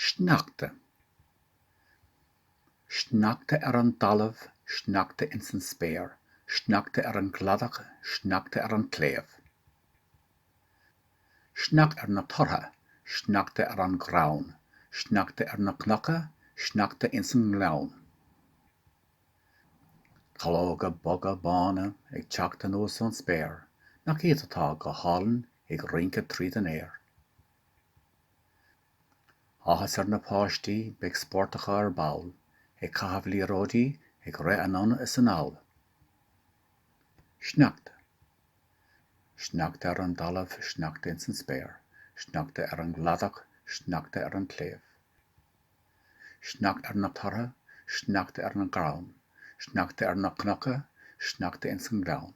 Sneachta. Sneachta ar an dtalamh, sneachta ins an spéir, sneachta ar an gcladach, sneachta ar an tsléibh. Sneachta ar na tortha, sneachta ar an gcrann, sneachta ar na cnoca, sneachta ins an ngleann. Calóga boga bána ag teacht anuas ón spéir, nach iad atá go hálainn ag rince tríd an aer. Áthas ar na páistí, beidh spórt acu ar ball, ag caitheamh liathróidí, ag rith anonn is anall. Sneachta. Sneachta ar an dtalamh, sneachta ins an spéir, sneachta ar an gcladach, sneachta ar an tsléibh. Sneachta ar na tortha, sneachta ar an gcrann, sneachta ar na cnoca, sneachta ins an ngleann.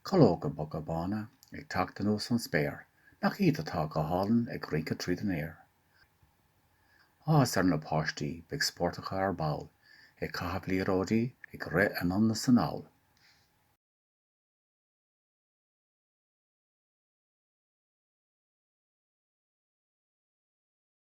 Calóga boga bána ag teacht anuas ón spéir, nach iad atá go hálainn ag rince tríd an aer. Áthas ar na páistí, beidh spórt acu ar ball, ag caitheamh liathróidí, ag rith anonn is anall.